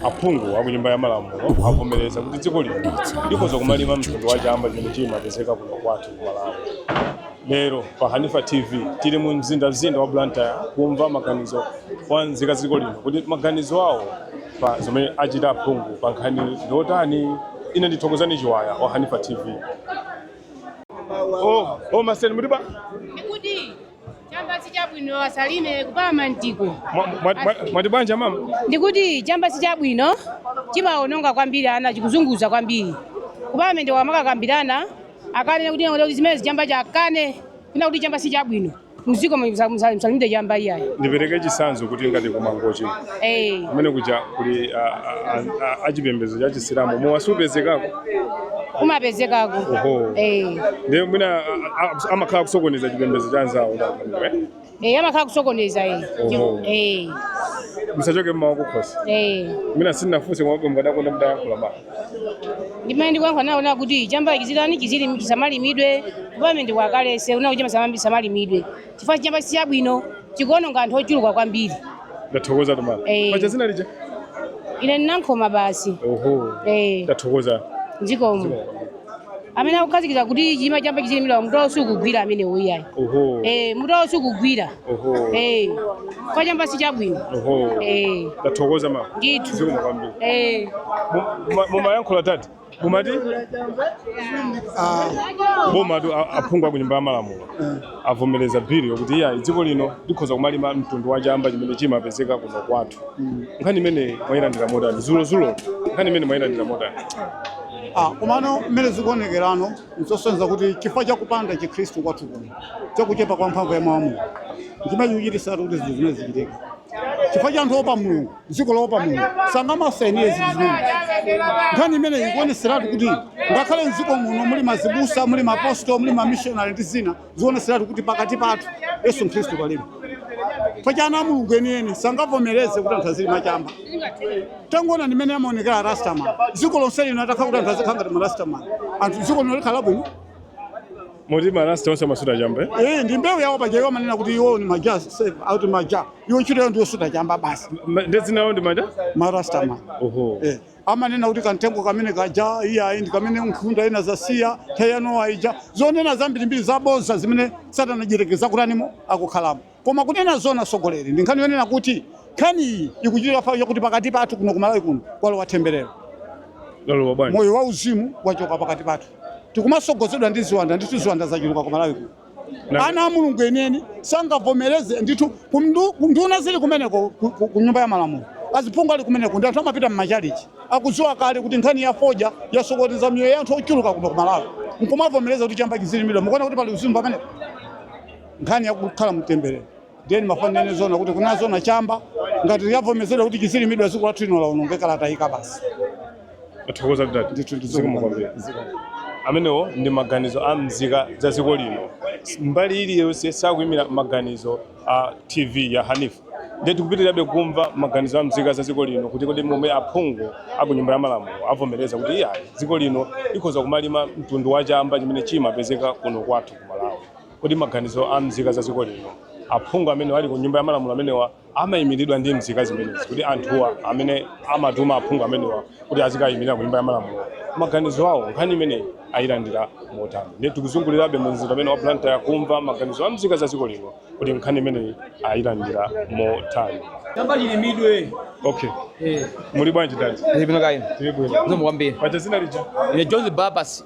aphungu akunyumba ya malamulo avomereza kuti dziko lino likhoza kumalima mtundu wa chamba chimene chimapezeka kuno kwathu ku malawi lero pa hanifa tv tili mu mzindazinda wa blantyre kumva maganizo a nzika dziko lino kuti maganizo awo pa zomwe achita aphungu pa nkhani ndiotani ine ndi Thokozani Chiwaya wa hanifa tv o o maseni muliba chamba si chabwino asalime kupalamentiko Mwa- mwa- mwa- mwati bwanji mama? ndikuti chamba si chabwino chimaononga kwambiri ana chikuzunguza kwambiri kupalamende akamakakambirana akane kuti kuti zimene zachamba akakane kunena kuti chamba si chabwino mdziko musalimidwe chamba iyayi Ndipereke chitsanzo kuti ngati ku Mangochi. Eh. Kumene kuja kuli ah, ah, ah, achipembedzo cha Chisilamu. Iwo sapezekako. kumapezekako Oho. eh ndiye mwina a- a- a- amakhala akusokoneza chipembedzo cha anzawo eh amakhala akusokoneza eh Oho. eh zisachoke mmawa kukhosi eh mwina sindinafunse kumbwe mukadakonda mutayankhula ma ndimene ndikuyankha nawo ona kuti chamba chizitani chizili chisamalimidwe kupalamente ndi kwakale kuti chisamalimidwe chifukwa chamba si chabwino chikuononga anthu ochuluka kwambiri ndathokoza mama Eh. paja dzina lija ine ndi Nankhoma basi oho Eh. ndathokoza zikomo amene akukhazikitsa kuti chilima chamba chizilimidwa mutu wo sukugwira amenewo iyayi oho eh mutu wo sukugwira oho eh chifukwa chamba si chabwino oho eh ndathokoza mama ndithu zikomo kwambiri eh Mu- mu- mumayankhula tati mumati bomatu a- aphungu aku nyumba ya malamulo avomereza bili yokuti iyayi dziko lino likhoza kumalima mtundu wa chamba chimene chimapezeka kuno kwathu nkhani imene mwayilandira motani dzulodzulo nkhani imene mwayilandira motani Ah, komano mmene zikuonekerano nzosonyeza kuti chifukwa cha kupanda chikhristu kwathu kuno cha kuchepa kwa mphamvu ya mawu a Mulungu chimene chikuchititsa kuti zinthu zimenezi zichitike chifukwa cha anthu oopa mulungu dziko loopa mulungu sangamasainire zinthu zimenezi nkhani imeneyi ikuonetseratu kuti ngakhale mdziko muno muli mazibusa muli maapostolo muli mamishonari ndi zina zionetseratu kuti pakati pathu yesu khristu palibe paja ana a mulungu enieni sangavomereze kuti anthu azilima chamba tangoonani mmene amaonekera arastaman dziko lonse lino atakhala kuti anthu azikhala ngati marastamani anthu dziko lino likhala bwino Moti marasta onse amasuta chamba eh? Eh, ndi mbewu yawo paja iwo amanena kuti iwo ndi ma Jah ati ma Jah iwo ntchito yawo ndiyosuta chamba basi Ma- Ndi dzina lawo ndi ma Jah? marastamani Oho. eh, amanena kuti kamtengo kamene kaja iyayi ndi kamene nkhunda inadzasiya tsiku la Nowa lija zonena zambirimbiri zabodza zimene satana mdyerekezi kutaniko akukhalamo Koma kunena zoona atsogoleri ndi nkhani yonena kuti nkhani iyi ikuchitika chifukwa chakuti pakati pathu kuno ku Malawi kuno kwalowa themberero. Lalowa bwanji? Moyo wauzimu wachoka pakati pathu. Tikumatsogozedwa ndi ziwanda ndithu ziwanda zachuluka ku Malawi kuno. Na- Ana a Mulungu enieni sangavomereze ndithu kumndu- nduna zili kumeneko ku- ku ku nyumba ya malamulo. Aziphungu ali kumeneko ndi anthu amapita m'machalichi akudziwa kale kuti nkhani ya fodya yasokoneza miyoyo ya anthu ochuluka kuno ku Malawi. Nkumavomereza kuti chamba chizilimidwa. Mukuona kuti pali uzimu pamenepo? nkhani yakukhala m'temberero ndiye ndimafanira ine zona kuti kunena zoona chamba ngati avomereza kuti chizilimidwa dziko lathu lino laonongeka latayika basi tathokoza dad ndithu zikomo kwambiri ndizikoma amenewo ndi maganizo a mzika za dziko lino mbali iliyonse sakuyimira maganizo a tv ya hanif ndiye tikupitirabe kumva maganizo a mzika za dziko lino kuti kodi momwe aphungu aku nyumba ya malamulo avomereza kuti iyayi dziko lino likhoza kumalima mtundu wa chamba chimene chimapezeka kuno kwathu ku malawi Kodi maganizo a mzika za dziko lino, aphungu amene ali ku nyumba ya malamulo amenewa amayimiridwa ndi mzika zimenezi kuti anthuwa amene amatuma aphungu amenewa kuti azikayimilira ku nyumba ya malamulo, maganizo awo nkhani imeneyi ayilandira motani? Ndiye tikuzungulirabe mu mzinda umene wa Blantyre kumva maganizo a mzika za dziko lino kuti nkhani imeneyi ayilandira motani. Chamba chilimidwe. Okay. Eh. Muli bwanji dad? Ndili bwino kaya inu. Ndili bwino. Zikomo kwambiri. Paja dzina lija. Ine Jones Babas.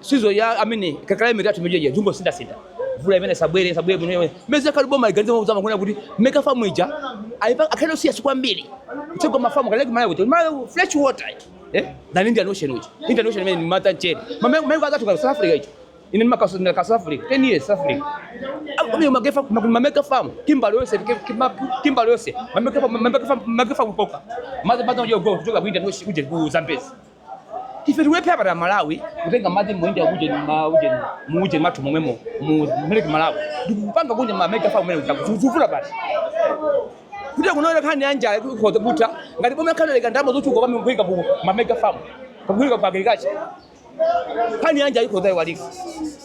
sizo ya amene kakala imene athu mejeje zungo sinda sinda vula imene sabwere sabwere bwino yomwe meza kali boma iganze mwa kuzama kuona kuti meka famu ija aipa akale usiya siku mbili kucheka mafamu kale kumala kuti mala fresh water eh na nindi anotion uji nindi anotion imene mata cheni mama mama akatu ka South Africa ichi ine makaso na ka South Africa 10 years South Africa mimi magefa mameka famu kimbali yose kimbali yose mameka famu mameka famu poka maza maza ujogo kutoka bwinda noshi uje ku Zambezi ife tikulephera pa Malawi kutenga madzi mu nyanja uje ma uje mu uje mathu momwemo mu ma Lake Malawi ndikupanga kunja ma mega farm amene akufuna basi kuti kunoku nkhani ya njala ikhoza kutha ngati boma likalekera ndalama zochuluka pamene kuika ku ma mega farm kuika ku agriculture nkhani ya njala ikhoza kuiwalika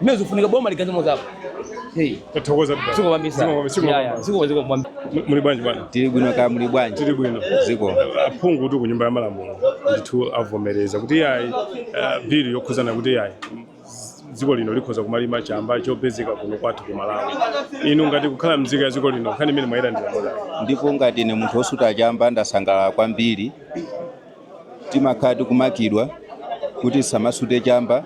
Mmene zifunika boma likaikeko dzanja. Hey. Tathokoza bwana. Zikomo kwambiri. Zikomo kwambiri. Zikomo kwambiri. Zikomo zikomo kwambiri. Muli bwanji bwana? Tili bwino kaya muli bwanji? Tili bwino. Zikomo. Aphungutu ku nyumba ya malamulo ndithu avomereza kuti iyayi uh, bill yokhudzana kuti iyayi dziko lino likhoza kumalima chamba chopezeka kuno kwathu ku Malawi. Inu ngati kukhala mzika ya dziko lino nkhani imeneyi mwayilandira motani? Ndipo ngati ine munthu wosuta chamba ndasangalala kwambiri Timakhala tikumangidwa kuti tisamasute chamba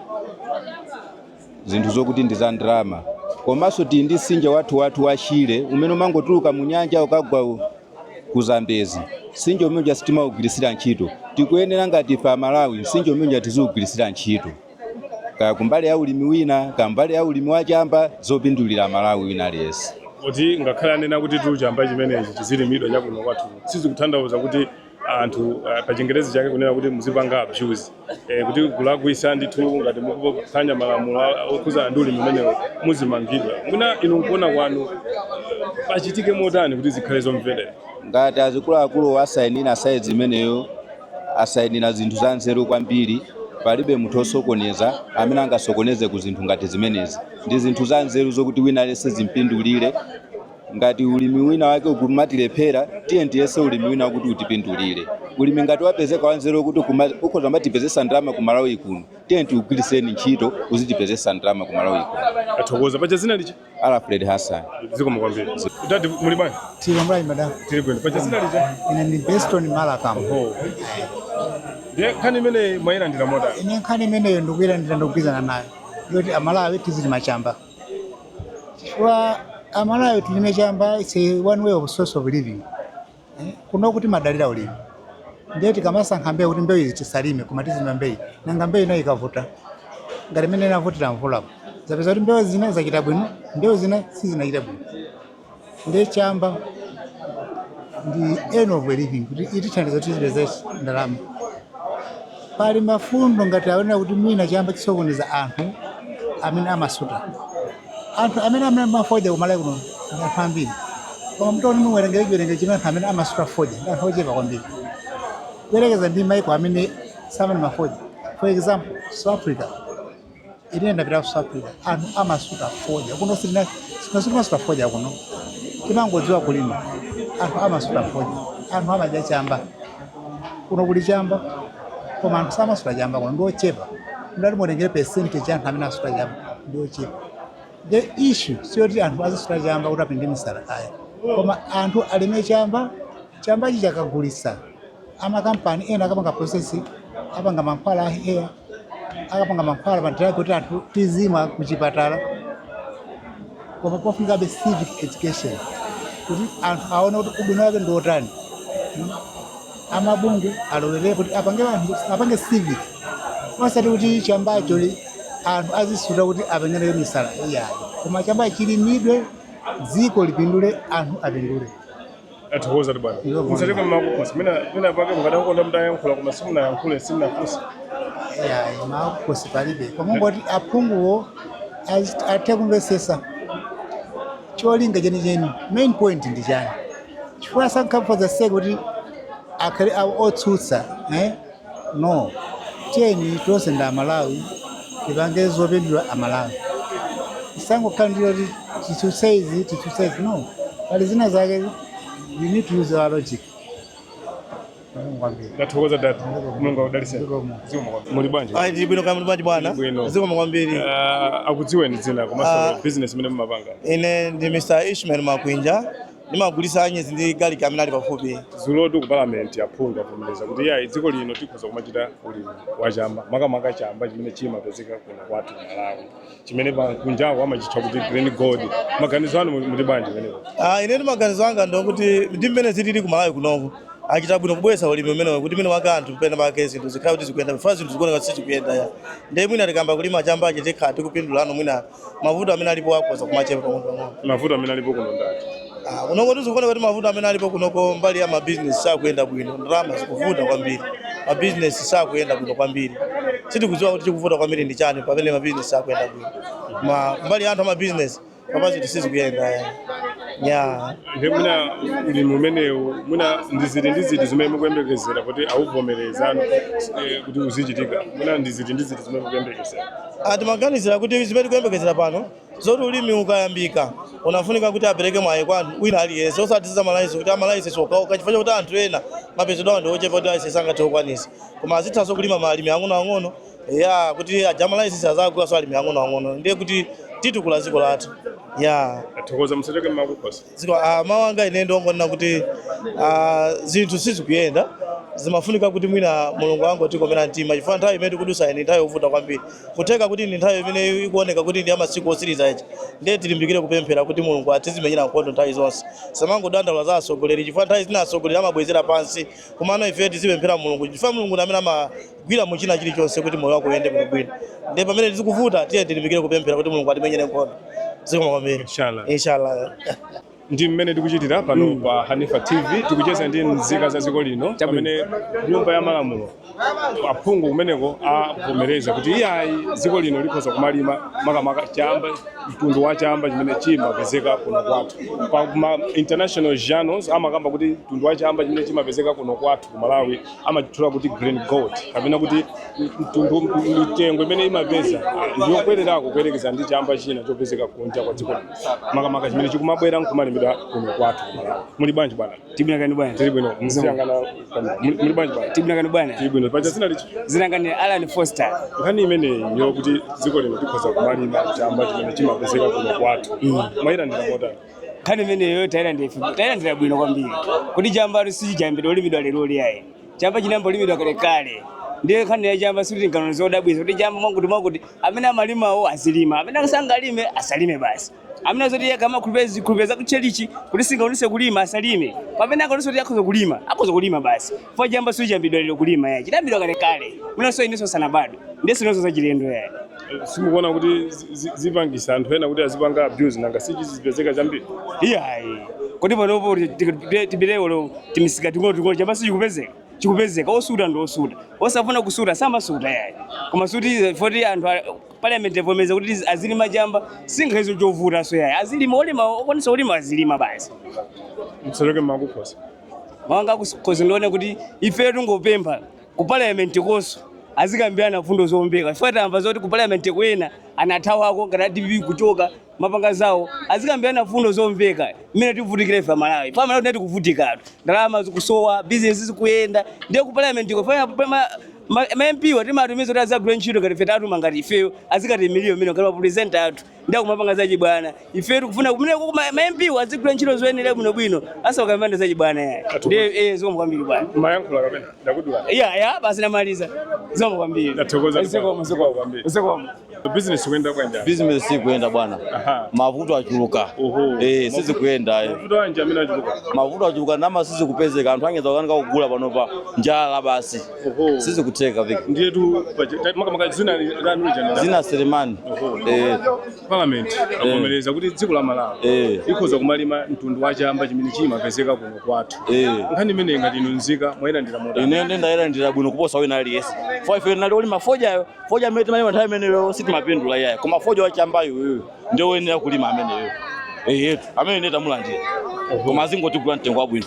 zinthu zokuti ndi za ndalama. Komanso tili ndi mtsinje wathuwathu wa Shire umene umangotuluka mu nyanja ukagwa u- ku Zambezi. Mtsinje umene uja sitimaugwiritsira ntchito. Tikuyenera ngati ife Amalawi mtsinje umene uja tiziugwiritsira ntchito. Kaya kumbali ya ulimi wina, kaya mbali ya ulimi wa chamba zopindulira Amalawi wina aliyense. kuti ngakhale anena kutitu chamba chimenechi chizilimidwa chakuno kwathu sizikutanthauza kuti anthu uh, pa chingerezi chake kunena kuti muzipanga abuse eh, kuti kulakwitsa ndithu ngati mukuphwanya malamulo a- okhudzana ndi ulimi umenewo muzimangidwa mwina inu nkuona kwanu pachitike motani kuti zikhale zomverera ngati azikuluakulu asayinira sayini imeneyo asayinira zinthu za nzeru kwambiri palibe munthu osokoneza amene angasokoneze ku zinthu ngati zimenezi ndi zinthu za nzeru zokuti wina aliyense zimpindulire Ngati ulimi wina wake ukumatilephera, tiyeni tiyese ulimi wina wakuti utipindulire. Ulimi ngati wapezeka wanzeru wokuti ukuma- ukhoza kumatipezetsa ndalama ku Malawi kuno, tiyeni tiugwiritseni ntchito uzitipezetsa ndalama ku Malawi kuno. Tathokoza paja zina lija Alfred Hassan. zikomo kwambiri dadi muli bwanji Tili bwino kaya madam. tili bwino paja dzina lija Ine ndi Beston Malakam. Oho. ndiye nkhani imene mwayilandira motani Ine nkhani imeneyo ndikuyilandira ndikugwirizana nayo. Yoti amalawi tizilima chamba. chifukwa amalawi tilime chamba its one way of source of living eh? kuno timadalira ulimi ndiye tikamasankha mbewu kuti mbewu izi tisalime koma tizilima mbewu nanga mbewu inayi ikavuta ngati mmene inavutira mvulapo zapezeka kuti mbewu zina zachita bwino mbewu zina sizinachita bwino Ndiye chamba ndi end of living kuti chitithandiza kuti tizipeza ndalama. Pali mfundo ngati akuonera kuti mwina chamba chisokoneza anthu amene amasuta. Anthu amene amalima fodya kumalawi kuno ndi anthu ambiri. Koma mutati muwerengere chiwerengero chimene anthu amene amasuta fodya ndi anthu ochepa kwambiri. Kuyerekeza ndi maiko amene samalima fodya. For example, South Africa. Ine ndapita ku South Africa anthu amasuta fodya kuno, sitimasuta fodya kuno, timangodziwa kulima. Anthu amasuta fodya, anthu amadya chamba kuno, kuli chamba koma anthu samasuta chamba kuno, ndiochepa mutati mutengere percentage anthu amene asuta chamba ndiochepa. The issue siyoti anthu azisuta chamba kuti apenge misala ayi, koma anthu alime chamba Chambachi akagulitsa amakampani ena akapanga process apanga mankhwala a hair akapanga mankhwala ma drug kuti anthu tizimwa kuchipatala koma pafunikabe civic education kuti anthu aone kuti ubwino wake ndi wotani Hmm. amabungwe alowerere kuti apange anthu apange civic osati kuti chambacho li- anthu azisuta kuti apengere misala iyayi koma chambachi chilimidwe dziko lipindule anthu apindule tathokoza bwana musacheka mangawa mwina mwina pake mukadakonda mtayankhula koma simunayankhule simunafunse yayi makukosi palibe koma kungoti aphunguwo az- athe kumvetsetsa cholinga chenicheni main point ndi chani chifukwa samangofuna for sake kuti akhale awo otsutsa eh? No. Tiyeni tonse ndi amalawi tipange zopindula amalawi. Tisangokhala ndi kuti titsutse izi titsutse izi no. Pali zina zake we need to use our logic. Zikomo kwambiri. Ndathokoza dad. Mulungu akudalitseni. Zikomo. Zikomo kwambiri. Muli bwanji? Ayi tili bwino kaya muli bwanji bwana? Bwino. Zikomo kwambiri. Ah, akudziweni dzina komanso Ah. business imene mumapanga. Ine ndi Mr. Ishmael Makwinja Ndimagulisa anyezi ndi garlic amene ali pafupi. Dzulotu ku parliament aphungu avomereza kuti iyayi dziko lino tikhoza kumachita ulimi wa chamba makamaka chamba chimene chimapezeka kuno kwathu ku Malawi chimene akunjako amachitcha kuti green gold. Maganizo anu muli bwanji pamenepo? Ah, inetu maganizo anga ndi okuti ndi mmene zilili ku Malawi kunoku achita bwino kubweretsa ulimi umenewo kuti mwina mwake anthu pena pake zinthu zikhale kuti zikuyenda chifukwa zinthu zikuoneka kuti sizikuyenda ya ndiye mwina tikayamba kulima chambachi tikhala tikupindulano mwina mavuto amene alipo akhoza kumachepa pang'onopang'ono mavuto amene alipo kuno ndi ati Ah, kunoko zinthu zikuoneka kuti mavuto amene alipo kunoko mbali ya mabizinesi sakuyenda bwino ndalama zikuvuta kwambiri mabizinesi sakuyenda bwino kwambiri sitikudziwa kuti chikuvuta kwambiri ndi chani pamene mabizinesi sakuyenda bwino ma mbali ya anthu amabizinesi pa pansi zinthu sizikuyenda eh. ya ndiye mwina ulimi umenewu mwina ndi ziti ndi ziti zimene mukuyembekezera kuti awuvomerezano eh, kuti uzichitika mwina ndi ziti ndi ziti zimene mukuyembekezera Ah, timaganizira kuti zimene tikuyembekezera pano zoti ulimi ukayambika unafunika kuti apereke mwayi kwa anthu wina aliyense osati za malayisensi kuti amalayisensi okhaokha chifukwa chakuti anthu ena mapezedwa awo ndi ochepa kuti layisensi sangathe kukwanisa koma azithanso kulima alimi ang'onoang'ono ya kuti aja amalayisensi azagulaso alimi ang'onoang'ono ndiye kuti titukula dziko lathu ya Tathokoza musachoke. Zikomo, ah, mawu anga ine ndongonena kuti ah, zinthu sizikuyenda zimafunika kuti mwina mulungu angotikomera mtima chifukwa nthawi imene tikudusayi ndi nthawi yovuta kwambiri kutheka kuti ndi nthawi imene ikuoneka kuti ndi yamasiku osiriza ndiye tilimbikire kupemphera kuti mulungu atizimenyera nkhondo nthawi zonse tisamangodandaula za atsogoleri chifukwa nthawi zina atsogoleri amabwezera pansi komano ife tizipemphera mulungu chifukwa mulungu ndi amene ama- gwira mu china chilichonse kuti moyo wako uyende bwino bwino ndiye pamene zinthu zikuvuta tiye tilimbikire kupemphera kuti mulungu atimenyere nkhondo zikomo kwambiri Inshallah. inshallah ndi mmene tikuchitira pano pa hanifa tv tikucheza ndi nzika za dziko lino pamene nyumba ya malamulo aphungu kumeneko avomereza kuti iyayi dziko lino likhoza kumalima makamaka chamba mtundu wa chamba chimene chimapezeka kuno kwathu pa ma international journals amakamba kuti mtundu wa chamba chimene chimapezeka kuno kwathu ku malawi amachitchula kuti green gold kapena kuti mtundu mitengo imene imapeza ndiyokwererako kuyerekeza ndi chamba china chopezeka kunja kwa dziko lino makamaka chimene chikumabwera nkumalimidwa kuno kwathu ku Malawi. muli bwanji bwana tili bwino kaya inu bwana tili bwino mziyangana muli muli bwanji bwana tili bwino kaya inu bwana tili bwino paja dzina lija dzina langa ndi alan foster nkhani imeneyi yokuti dziko lino tikhoza kumalima chamba chimene chimapezeka kuno kwathu mwayilandira motani nkhani imeneyo tayilandira bwino kwambiri kuti chambatu sichiyambidwa kulimidwa lero iyayi chamba chinayamba kulimidwa kalekale ndiye nkhani ya chamba sikuti tingaone zodabwitsa kuti chamba mwakuti mwakuti amene amalimawo azilima amene sangalime asalime basi amene azoti yekha amakhulupira zikhulupiriro za kutchalitchi kuti singakwanitse kulima asalime pamene angakwanitse kuti akhoza kulima akhoza kulima basi Chifukwa chamba sichiyambidwa lero kulima yayi. Chidayambidwa kale kale. Mwinanso inenso sinabadwe. Ndiye sionanso zachilendo yayi. simukuona kuti zi- zi- zipangisa anthu ena kuti azipanga abuse nanga sichizipezeka chambiri Iyayi. Kodi panopo tibilewo timisika ting'ono ting'ono chamba sichikupezeka. Chikupezeka osuta ndi osuta. Osafuna kusuta samasuta yayi. Koma suti poti anthu a- parliament yavomeza kuti tizi- azilima chamba singaiwone chovuta so yayi. Azilima olima okwanisa kulima azilima basi. mtsaloke mmakukhosi mawu anga ndikhoza ndinene kuti ife tingopempha ku parliament konso azikambirana fundo zomveka chifukwa tamva zoti ku parliament ko ena anathawako ngati a DPP kuchoka kumapanga zawo azikambirana fundo zomveka mmene tivutikira ife amalawi pamene tili tikuvutikatu ndalama zikusowa bizinesi sizikuyenda ndiye ku parliament ko ma MP wa timawatumiza kuti azagwire ntchito ngati ife tatuma ngati ifeyo azikatiimilira mmene ngati ma representative athu ndiye akumapanga za chibwana ife tikufuna kumeneko ma ma MP azigwira ntchito zoyenera bwino bwino asakambirane za chibwana yayi eh zikomo kwambiri bwana mumayankhula kapena ndakudulani yayi basi ndamaliza zikomo kwambiri Ndathokoza. zikomo zikomo Kwambiri. zikomo business ikuyenda bwanji business sikuyenda bwana Aha. mavuto achuluka Oho. eh sizikuyenda eh. mavuto anji amene achuluka mavuto achuluka ndalama sizikupezeka anthu akungokanika kugula panopa njala basi Oho. sizikutheka viki Ndiye tu makamaka zina lanu lija. zina Selemani eh, Parliament avomereza kuti dziko la Malawi Eh. likhoza kumalima mtundu wa chamba chimene chimapezeka kuno kwathu. eh. Nkhani imeneyi ngati inu nzika mwayilandira motani. ine ndayilandira bwino kuposa wina aliyense fo ife ndi olima fojayo foja amene timalima nthawi imeneyo sitimapindula iyayi koma foja wachambayo uyu ndi woyenera kulima ameneyo eyetu amene ine tamulandira koma azingotigula mtengo wabwino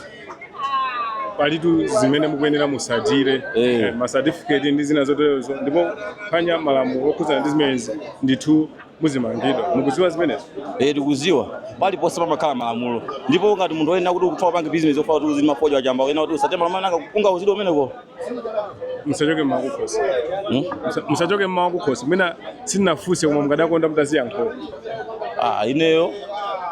palitu zimene mukuyenera musatire Eh. eh, masatifiketi ndi zina zoterezo ndipo pophwanya malamulo okhudzana ndi zimenezi ndithu muzimangidwa mukuziwa zimenezo Eh, tikuziwa paliponse pamakhala malamulo ndipo ngati munthu oyenera kuti ukufuna kupanga bizinesi ofuna kuti uzilima fodya wachamba oyenera kuti usatire malamulo nanga ungauzidwe kumeneko musachoke m'mawu kukhosi Hmm? Musa- musachoke m'mawu kukhosi mwina sindinafunse koma mukadakonda mutaziyankhula Ah, ineyo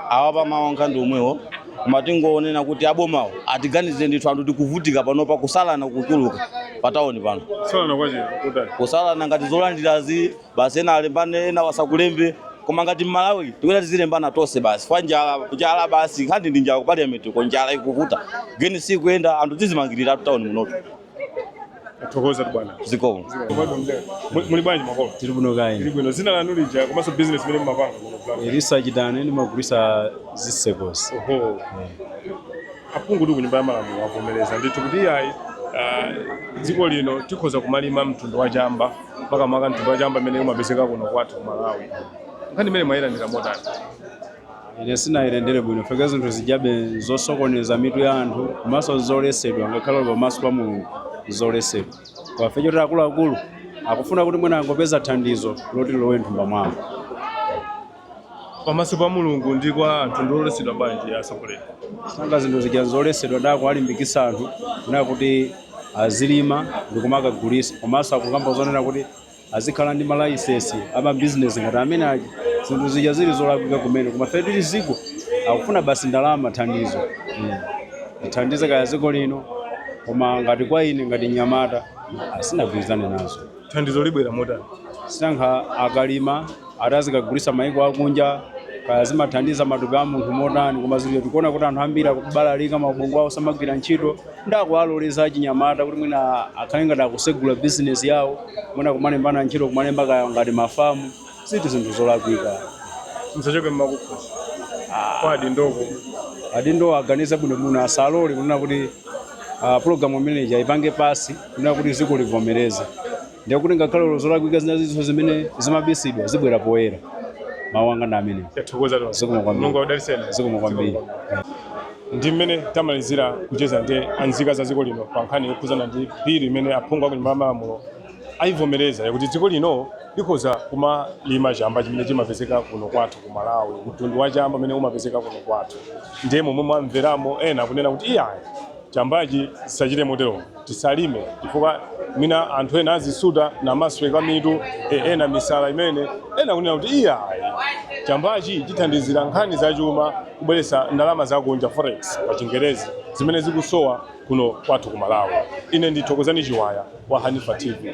apa mawu anga ndi omwewo koma tingonena kuti abomawo atiganize ndithu anthu tikuvutika panopa kusalana kuchuluka patawuni pano kusalana kwake kotani kusalana ngati zolandirazi basi ena alembane ena wasakulembe koma ngati mmalawi tikuyenera tizilembana tonse basi pa njala njala basi nkhani ndi njala ku parliament ko njala ikuvuta geni sikuyenda anthu tizimangirira tu tawuni muno Tathokozatu bwana. zikomo Mwadwa mdera. Muli- Muli bwanji makolo? tili bwino Tili kaya inu bwino. Dzina lanu lija komanso business imene mumapanga kuno plan. elisa chitani ndimagulisa zisekosi Oho. Aphungutu kunyumba ya malamulo avomereza ndithu kuti iyayi ah, dziko lino tikhoza kumalima mtundu wa chamba makamaka mtundu wa chamba imene umapezeka kuno kwathu ku Malawi. Nkhani imene mwayilandira motani? ine sinayilandire bwino chifukwa zinthu zijabe zosokoneza mitu ya anthu komanso zolesedwa ngakhale olo pamaso pa mulungu zolesedwa kwafe choti akuluakulu akufuna kuti mwina angopeza thandizo loti lilowe m'thumba mwawo pamaso pa mulungu ndi kwa anthu ndi zolesedwa bwanji atsogoleri sanga zinthu zija zolesedwa n'kuwalimbikisa anthu kunena kuti azilima ndikumakagulisa komanso akukamba zonena kuti azikhala ndi malaisensi amabizinesi ngati amene aja zinthu zija zili zolakwika kumene koma ife tili ziko akufuna basi ndalama mathandizo Mm. ithandize kaya ziko lino koma ngati kwa ine ngati nyamata sinagwirizane nazo thandizo libwera motani sinanga akalima atazikagulisa maiko akunja kaya zimathandiza matupi a munthu motani koma ziliyo tikuona kuti anthu ambiri akubalalika maubongo awo samagwira ntchito n'kuwaloleza achinyamata kuti mwina akhale ngati akusegula bizinesi yawo mwina kumalembana ntchito kumalemba kaya ngati mafamu zili zinthu zolakwika zachoke mmakukhosi kwa adindo ko adindo aganize bwinobwino asalole kunena kuti ah, program imeneyi ipange pasi kunena kuti ziko livomereze ndiye kuti ngakhale olo zolakwika zinazo zimene zimabisidwa zibwera poyera mawu anga ndi amenewa tathokoza tonse Zikomo kwambiri. mulungu akudalitseni zikomo kwambiri ndi mmene tamalizira kucheza ndi anzika za dziko lino pa nkhani yokhudzana ndi bilu imene aphungu a kunyumba ya malamulo ayivomereza yakuti dziko lino likhoza kumalima chamba chimene chimapezeka kuno kwathu ku malawi mtundu wa chamba umene umapezeka kuno kwathu ndiye momwe mwamveramo ena akunena kuti iyayi chambachi tisachite motero tisalime chifukwa mwina anthu ena azisuta n'kumasweka mitu e, ena misala pamene ena akunena kuti iyayi chambachi chithandizira nkhani zachuma kubweretsa ndalama zakunja forex pa chingerezi zimene zikusowa kuno kwathu ku malawi ine ndi thokozani chiwaya wa hanifa tv